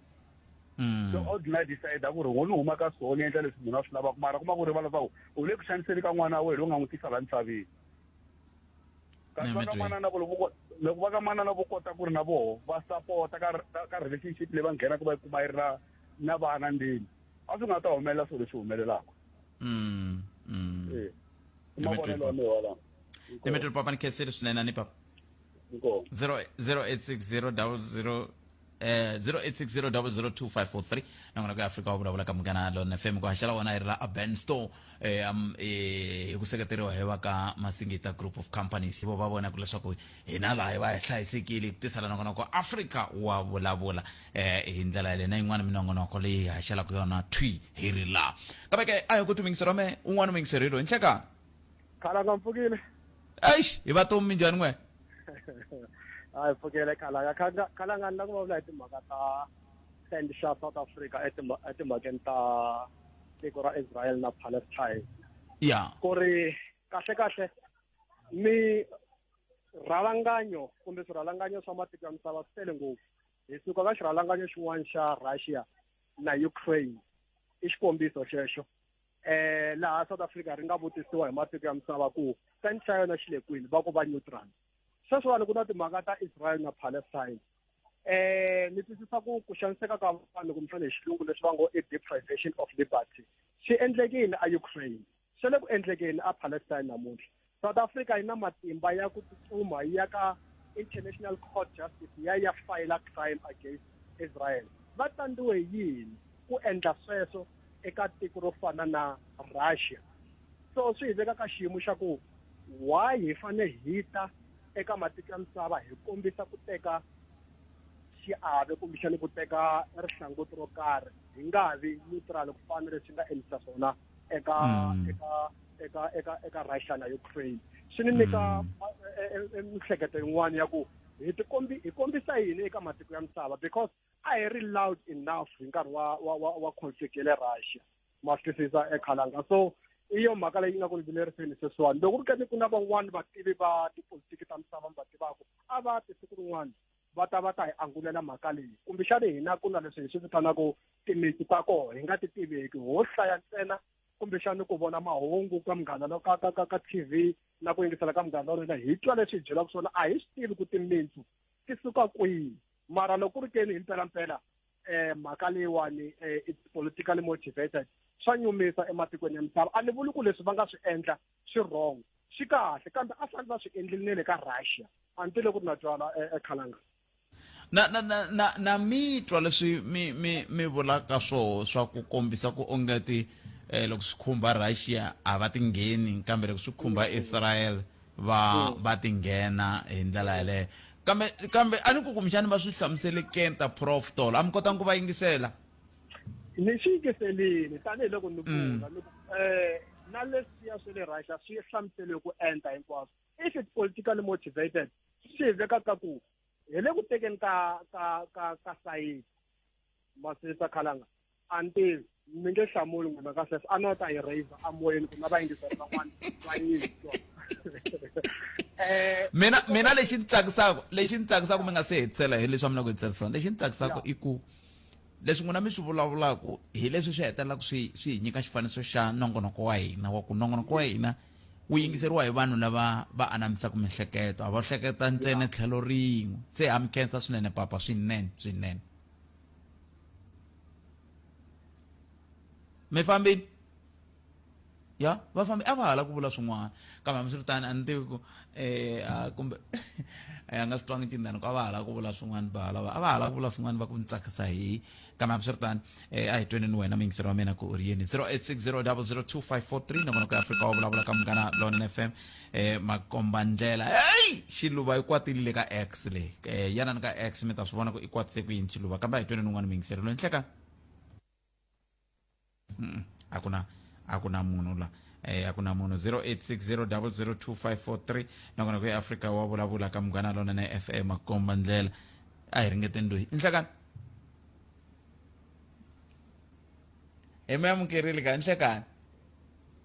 mm. so ordinary decide ku ri ngo ni huma ka swo ni endla leswi munhu a swi lavaka mara kuma ku rivala swa ku u le ku xaniseni ka n'wana wa wena u nga n'wi tisa la misaveni kasi va ka manana ku loko loko va ka manana vo kota ku ri na voho va sapota ka ka relationship leyi va nghenaka va yi kuma yi ri na na vana ndeni a swi nga ta humelela swilo leswi humelelaka mm, mm. e i mavonelo ya mehe walawo limitele papa ni khenseli swinene ni papa 0860 eh 0860002543 nangona ku Africa wa vulavula ka mugana lona FM ku haxela wona hi la Urban Store eh um eh hi ku seketeriwa hi va ka Masingita Group of Companies vo va vona ku leswaku hina laha hi va hi hlayisekile ku tisala nangona ku Africa wa vulavula eh hi ndlela yaleyo na yin'wana minongonoko leyi hi haxelaka yona thwi hi ri laha kambe ke a hi ku timingisero me un'wana mingiserilo hi nhleka khalanga mpfukile eish hi va tomi minjhani n'we a hi pfukile khalanga Khalanga- khalanga ni la ku vulavula hi timhaka ta stand xa south africa etimha- etimhakeni ta tiko ra israel na palestine ya ku ri kahle kahle mi rhalanganyo kumbe swirhalanganyo swa matiko ya misava swi tele ngopfu hi suka ka xirhalanganyo xin'wana xa russia na ukraine i xikombiso xexo eh laha south africa ri nga vutisiwa hi matiko ya misava ku sand xa yona xi le kwini va ku va neutral sweswiwani ku na timhaka ta israel na palestine eh ni twisisa ku ku xaniseka ka vanhu kumbexana hi xilungu leswi va ngo i deprivation of liberty swi endlekile a ukraine Swi le ku endlekeni ePalestine namuntlha. South Africa yi na matimba ya ku tsutsuma yi ya ka International Court Justice ya ya fayila crime against Israel. Va tsandziwe hi yini ku endla sweswo eka tiko ro fana na Russia? So swi hi veka ka xiyimo xa ku why hi fane hi ta eka matiko ya misava hi kombisa ku teka xiave kumbexani ku teka rihlanguti ro karhi hi nga vi neutral ku fana na leswi nga endlisa swona eka mm. eka eka eka eka Russia na Ukraine swi ni nyika mm. eh, eh, eh, miehleketo yin'wana ya ku hi tikombi hi kombisa yini eka matiko ya misava because a hi ri loud enough hi nkarhi wa wa wa, wa conflict ya le Russia ma twisisa ekhalanga so i yo mhaka leyi nga ku ni vileriseni sweswiwani loko ri ka ni ku na van'wani vativi va tipolitiki ta misava mi va tivaka a va tisiku rin'wana va ta va ta hi angulela mhaka leyi kumbexani hina ku na leswi hi swi vitanaka timitsu ta koho hi nga ti tiveki ho hlaya ntsena kumbexani ku vona mahungu ka munghana lo ka ka ka ka t v na ku yingisela ka munghana lorena hi twa leswi hi byelaka swona a hi swi tivi ku timitsu ti suka kwihi mara loko ku ri keni hi mpelampela um mhaka leyiwani um it's politically motivated swa nyumisa ematikweni ya misava a ni vuli ku leswi va nga swi endla swi wrong swi kahle kambe a fanele va swi endlile ne le ka russia a ni tile ku ri na twala ekhalanga na na na na na mi twa leswi mi mi mi vulaka swoho swa ku kombisa ku ongeti um loko swi khumba russia a va ti ngheni kambe loko swi khumba mm. israel va mm. va ti nghena hi ndlela mm. yeleyo kambe kambe a ni ku kumbexani va swi hlamuselekenta prof tolo a mi kotanga ku va yingisela ni xi yingiselini tanihiloko ni mm. vula eh, na leswiya swa le russia swi hlamuseliwe ku enta hinkwaswo if it's politically motivated swi veka ka ku hi le ku tekeni ka ka ka ka sayiti masirisa khalanga until mi nge hlamuli n'wina ka sweswo a no ta yi raiser amoyeni ku na vayingiseri van'wana va yini eh, mina mina lexi ni tsakisaka lexi ni tsakisaka mi nga se hetisela hi leswi a mi na ku hetisela swona lexi ni tsakisaka i ku leswi n'wina mi swi vulavulaka hi leswi swi hetelelaka swi swi hi nyika xifaniso xa nongonoko wa hina wa ku nongonoko wa hina wu yingiseriwa hi vanhu lava va anamisaka mihleketo a va hleketa ntsena tlhelo rin'we se ha mi khensa swinene papa swinene swinene mi fambini ya vafambi a va ha la ku vula swin'wana kambe hambiswiritani a ni tivi ku um kumbe a nga swi twangi cindani ku a va ha la ku vula swin'wana va lava a va ha la ku vula swin'wana va ku ni tsakisa hi kambe hambiswiritani um a hi tweni ni wena muyingiseri wa mina ku u ri yini zero eight six zero double zero two five four three nakona ku ya afrika wa vulavula ka munghana lona f m um makomba ndlela heyi xiluva i kwatile le ka x leyi um yana ni ka x mi ta swi vona ku i kwatise ku yini xiluva kambe a hi tweni ni un'wana muyingiseri loyi nhleka Mm, a ku na a ku na munhu la eh, a ku na munhu 0860002543 nakona ku ya afrika wa vulavula ka munghana lona na fm akomba ndlela a hi ringeteni loyi inhlekani hi mi amukerile ka inhlekani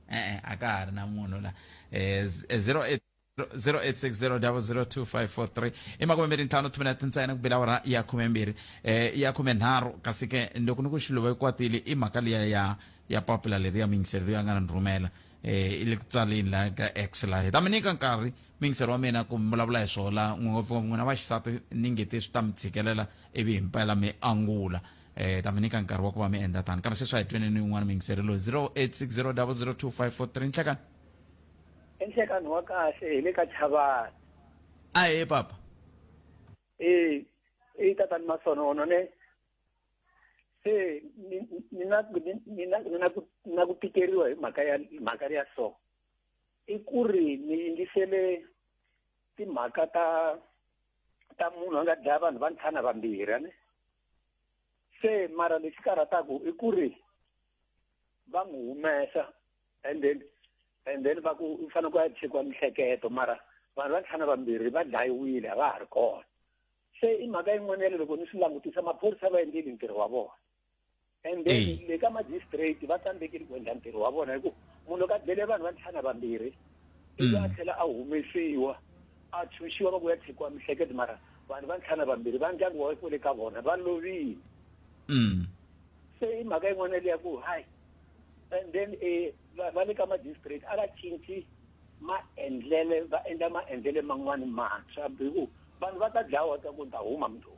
e-e a ka ha ri na munhu la um 08 0860002543 i makume mbirhi ntlhanu tshumi na tintsena ku bela wara ya khume mbirhi eh ya khume nharhu kasi ke loko ni ku xiluva ikwatile i mhaka liya ya ya papila leri ya mingiseri loyi a nga ni rhumela eh i le ku tsaleni laha ka x laha hi ta mi nyika nkarhi mingiseri wa mina ku mi vulavula hi swona ngopfungopfu n'wina vaxisati ni ngete swi ta mi tshikelela ivi hi mpela mi angula eh ta mi nyika nkarhi wa ku va mi endla tani kambe sweswi a hi tweneni yin'wana mingiseri loyi 0860002543 nhlekani i nhlekani wa kahle hi le ka chavani a he papa e i tatani masonono ne se ni na ni na ni na ku na ku tikeriwa hi mhaka ya mhaka ya so i ku ri ni yingisele timhaka ta ta munhu a nga dlaya vanhu va ntlhana vambirhi ne se mara lexi karhataku i ku ri va n'wi humesa and then and then va ku u fanele ku ya chekiwa mihleketo mara vanhu va ntlhana vambirhi va dlayiwile a va ha ri kona se i mhaka yin'wana ya le loko ni swi langutisa maphorisa va endleli ntirho wa vona and then le ka magistrate va tsandzekile ku endla ntirho wa vona hikuva munhu loko a dlele vanhu va ntlhana vambirhi ivi a tlhela a humesiwa a tshunxiwa va ku ya tshikiwa mihleketo mara vanhu va ntlhana vambirhi va ndyangu wa ku le ka vona va lovile se i mhaka yin'wana leya ku hayi and then eh va va le ka ma district a va cinci maendlele va endla maendlele man'wani mantshwa biku vanhu va ta dlawa ta ku ta huma mnduku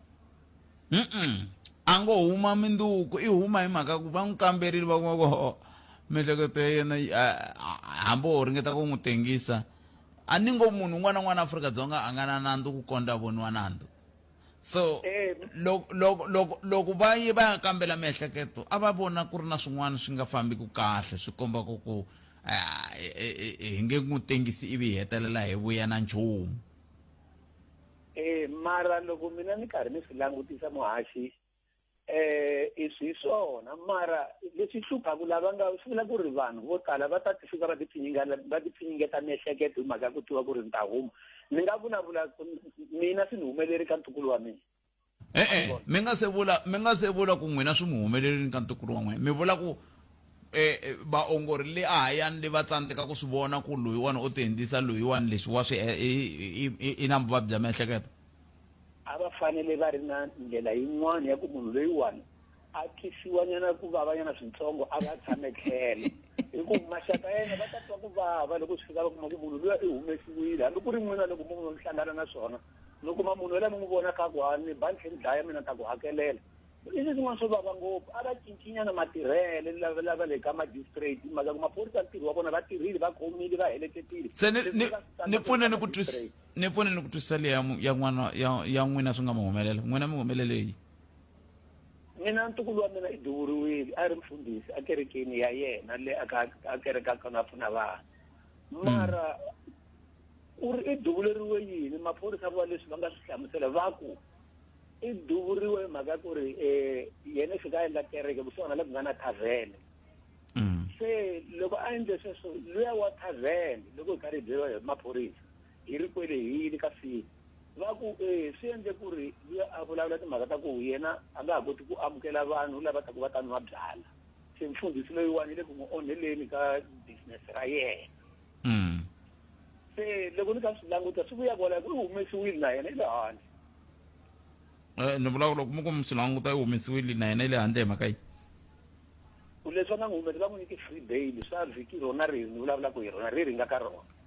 Mm-mm. a ngo huma minduku i huma hi mhaka ku va n'wi kamberile va kuma ku "Oh, miehleketo ya yena yi- a- a- hambi wo ringeta ku n'wi tengisa a ni ngo munhu un'wana na un'wana afrika dzonga a nga na nandzu ku kondza a voniwa nandzu so eh. loko loko loko loko va ye va ya kambela miehleketo a va vona ku ri na swin'wana swi nga fambi ku kahle swi komba ku ku ah, e, e, e, hi nge n'wi tengisi ivi hi hetelela hi vuya na nchumu eh mara loko mina ni karhi ni swi langutisa muhaxi eh i swi swona mara leswi hluphaku lava nga swi vula ku ri vanhu vo tala va ta ti fika va tipfinyingela va tipfinyingeta miehleketo hi mhaka ya ku tiva ku ri ni ta huma ni nga vulavula mina swi ni humeleri ka ntukulu wa mina e-e mi nga se vula mi nga se vula ku n'wina swi mi humelerile ka ntukulu wa n'wina mi vula ku eh vaongori le a hayani le va tsandzeka ku swi vona ku loyiwani o ti endlisa loyiwani leswi wa swi i na vuvabyi bya miehleketo a va fanele va ri na ndlela yin'wana ya ku munhu loyiwani a twisiwanyana ku vavanyana swintsongo a va tshame tlhelo hikuva maxaka ya yena va ta twa ku vava loko swi fika va kuma ku munhu luya i humesiwile hambi ku ri n'wina loko mu mi hlangana na swona mi kuma munhu yalaye mi n'wi vona ka ku a ni ba ni tlhe ni dlaya mina ta ku hakelela i swi swin'wana swo vava ngopfu a va cincinyana matirhele lava lava le ka magistrate maka ku maphorisa ntirho wa vona va tirhile va khomile va heletetile se ni ni ni pfune ni ku twisisa ni pfune ni ku twisisa leyi ya mu- ya n'wana ya ya n'wina swi nga mi humelela n'wina mi humeleleyi mina ntukulu wa mina i duvuriwile a ri mfundhisi ekerekeni ya yena le a ka- a kerekaka na pfuna vanhu mara u ri i duvuleriwe yini maphorisa va leswi va nga swi hlamusela va ku i duvuriwe hi mhaka ya ku ri um yena i fika a endla kereke kusuhana le ku nga na thavhene Mm. se loko a endle sweswo luya wa thavhene loko hi karhi hi byeriwa hi maphorisa hi ri kwelehile kasi va ku e swi endle ku ri luya a vulavula timhaka ta ku yena a nga ha koti ku amukela vanhu lava ta ku va ta nwa byala se mfundhisi loyiwani yi le ku n'wi onheleni ka business ra yena mm. se loko ni ka swi languta swi vuya kwalaho ku yi humesiwile na yena yi le handle um ni vulavula loko mi ku mi swi languta yi humesiwile na yena yi le handle hi mhaka yi leswi va nga n'wi humesa va n'wi nyike free bail swa vhiki rona ri ni vulavulaka hi rona ri ri nga ka rona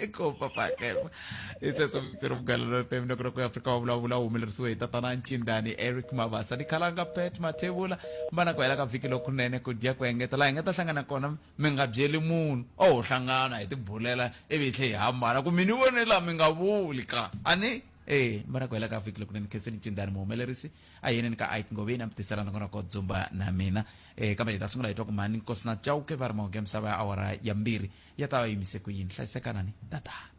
Eccopa Pakes. Ese somitiro mgalelo FM no kroko Afrika wa bula bula umile rsuwe tatana nchindani Eric Mabasa. Ni kalanga pet matebula mbana kwa elaka viki lo kunene kudia kwa engeta la engeta hlangana kona minga byeli munhu. Oh hlangana hi tibulela ivi hle hi hambana ku mini wone la minga vuli ka. Ani eh mbana kwa elaka viki lo kunene kheseni nchindani muhumelerisi a hi yeleni ka ike ngoveni a mi tisela nongonoko dzumba na mina um kambe hi ta sungula hi twa ku mhani nkosi na chauke va ri mahonge misava ya awara ya mbirhi ya ta va yimise ku yini hlayisekanani tatana